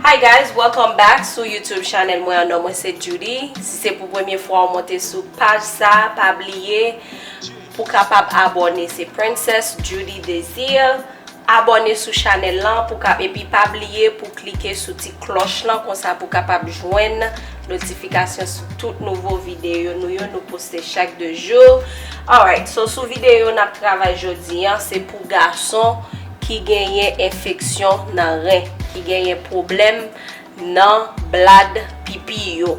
Hi guys welcome back sou YouTube channel mwen an non mwen se Djoudy si se pou premye fwa ou monte sou paj sa pa bliye pou kapab abone se Princess Djoudy Desir. Abòne sou chanèl lan pou ka epi pa bliye pou klike sou ti klòch lan konsa pou kapab jwenn notifikasyon sou tout nouvo videyo nou yo nou poste chak 2 jou alright so sou videyo nap travay jodi an se pou gason ki genyen enfeksyon nan ren ki genyen pwoblèm nan blad pipi yo.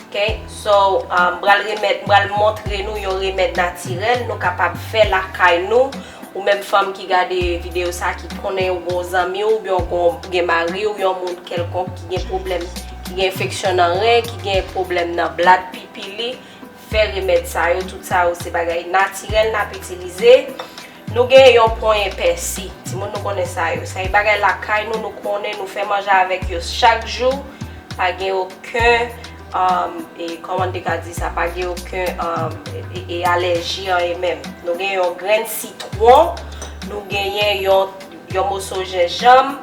Ok so m pral remèt m pral montre nou yon remèd natirèl nou kapab fè lakay nou ou menm fanm ki gade video sa ki konnen ou gon zanmi ou byen ou gen mari ou yon moun kèlkonk ki gen pwoblèm ki gen enfeksyon nan ren ki gen pwoblèm nan blad pipi li fè remèd sa yo tout sa yo se bagay natirèl nap itilize. Nou gen yon ponyen pèsi. Timoun nou konnen sa yo. Sa e bagay lakay nou, nou konnen, nou fè manje avèk yo chak jou. Pa gen oken, e kòman n te ka di sa, pa gen oken e alèji anyen menm. Nou gen yon grenn sitwon, nou genyen yon moso jenjanm,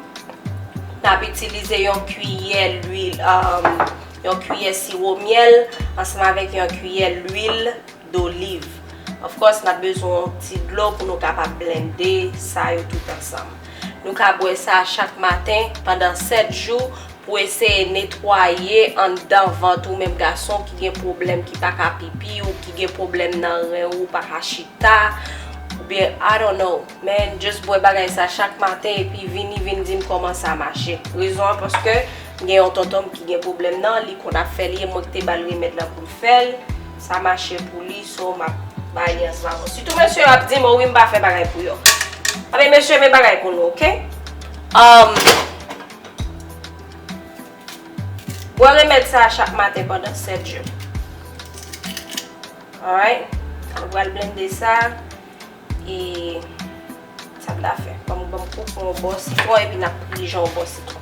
n ap itilize yon kiyè lwil, yon kiyè siwo myèl, ansanm avèk yon kiyè lwil doliv. Of course nap bezwen yon ti dlo pou nou kapab blende sa yo tout ansanm. Nou ka bwè sa chak maten pandan 7 jou pou eseye netwaye anndan vant ou menm gason ki gen pwoblèm ki pa ka pipi ou ki gen pwoblèm nan ren ou ou pa ka chita oubyen I don't know men just bwè bagay sa chak maten epi vini vin dim kòman sa mache. Rezon an paske m gen yon tonton m ki gen pwoblèm nan li konn ap fè li e mwen k te bal remèd lan pou l fè l. Sa mache pou li so map bay li ansanm avèw. Sitou mesye yo ap dim o wi m pa fè bagay pou yo. Anben mesye men bagay pou nou ok. Umm Bwè remèd sa a chak maten pandan 7 jou. Alright Nou pral blende sa e sa m ta fè banm koup yon bò sitwon epi nap prijan yon bò sitwon.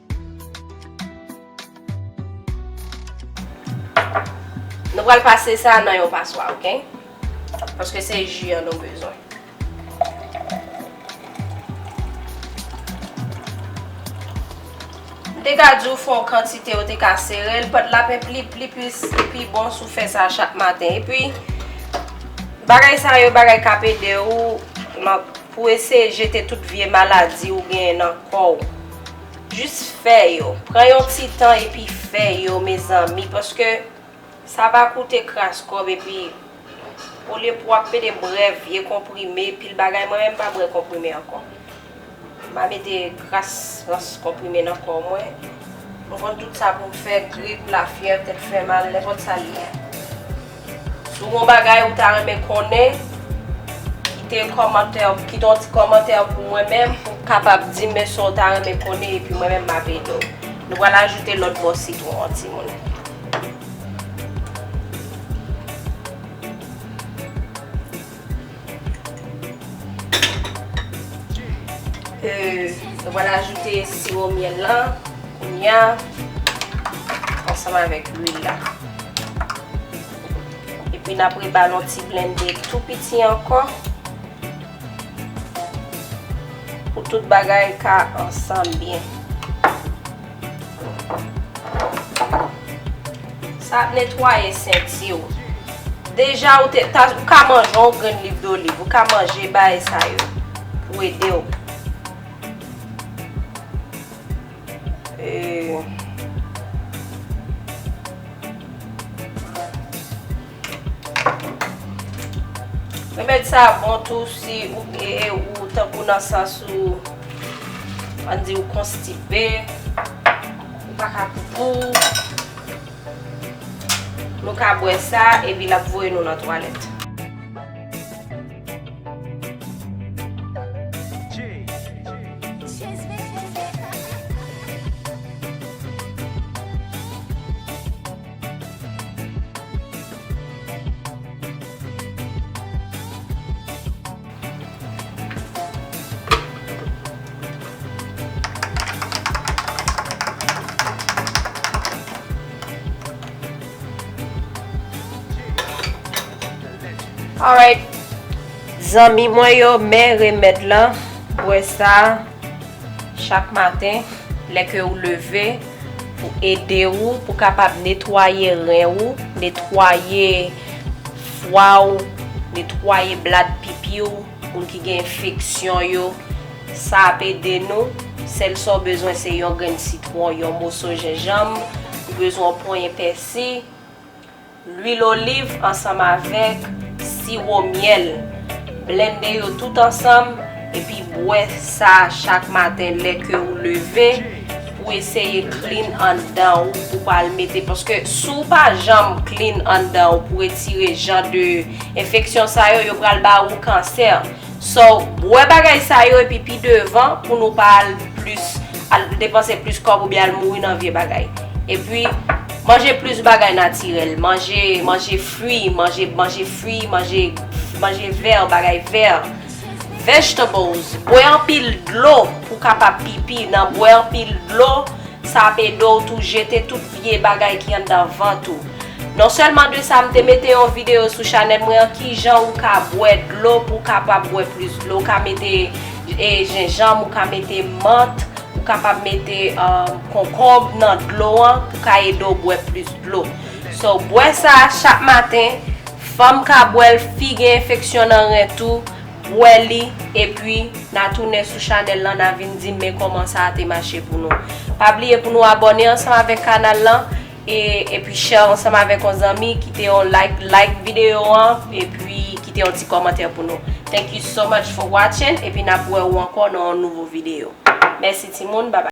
Nou pral pase sa nan yon paswa ok. Paske se ji an nou bezwen. M te ka di w fon kantite ou te ka sere l. Pad la pe pli pli plis li pi bon sou fè sa chak maten. E pi bagay sa yo bagay kap ede ou pou ese jete tout vye maladi ou gen nan kò w. Jis fè yo, pran yon ti tan epi fè yo mezanmi paske sa va koute kras kòb epi olye pou wap mete brè vye konprime pil bagay mwen menm pa brè konprime ankò m pa mete kras rans konprime nan kò mwen mwen konn tout sa pou m fè grip lafyèv tèt fè mal nenpòt sa li ye. Si w gen yon bagay ou ta renmen konnen, kite yon kòmantè, kite yon ti kòmantè pou mwen menm pou w kapab di m sa w ta renmen konnen epi mwen menm m ap ede w. Nou pral ajoute lòt bò sitwon an timoun. Mwen ajoute siwo myèl la kounya ansanm avèk lwil la. Epi n ap rebale yon ti blende tou piti ankò pou tout bagay ka ansanm byen. Sa ap netwaye senti w. Deja ou te ta, ou ka manje yon grenn liv doliv, ou ka manje bagay sa yo pou ede w. E. Remèd sa bon tou si ou ee ou tankou nan sans ou ann di ou konstipe, ou pa ka poupou, nou ka bwè sa epi l ap voye nou nan twalèt. Alright Zanmi mwen yo men remèd lan bwè sa chak maten lè ke ou leve. Pou ede ou pou kapab netwaye ren ou, netwaye fwa ou, netwaye blad pipi ou, moun ki gen enfeksyon yo, sa ap ede nou, sèl sa ou bezwen se yon grenn sitwon, yon moso jenjanm, ou bezwen yon ponyen pèsi, Lwil oliv ansanm avèk siwo myèl. Blende yo tout ansanm epi bwè sa chak maten lè ke ou leve pou eseye clean anndan ou pou pa al mete paske si ou pa janm clean anndan ou pou retire jan de enfeksyon sa yo yo pral ba ou kansè. So, bwè bagay sa yo epi pi devan pou nou pa al plis, al depanse plis kòb oubyen al mouri nan vye bagay. Epi, manje plis bagay natirèl, manje, manje fwi, manje, manje fwi, manje, manje vè, bagay vè, vegetables, bwè anpil dlo pou kapab pipi, nan bwè anpil dlo sa ap ede w tou jete tout. vye bagay ki anndan vant ou. Non sèlman de sa m te mete yon videyo sou chanèl mwen an kijan ou ka bwè dlo pou w kapab bwè plis dlo. Ou ka mete jenjanm, ou ka mete mant, ou kapab mete konkonb nan dlo an pou ka ede w bwè plis dlo. So bwè sa chak maten, fanm ka bwè l, fi gen enfeksyon nan ren tou. wè li epi na tounen sou chanèl lan na vin dim men kòman sa te mache pou nou pa bliye pou nou abòne ansanm avèk kanal lan e epi share ansanm avèk yon zanmi kite yon like like video an epi kite yon ti kòmantè pou nou thank you so much for watching epi nap wè ou ankò nan yon nouvo video mèsi timoun babay.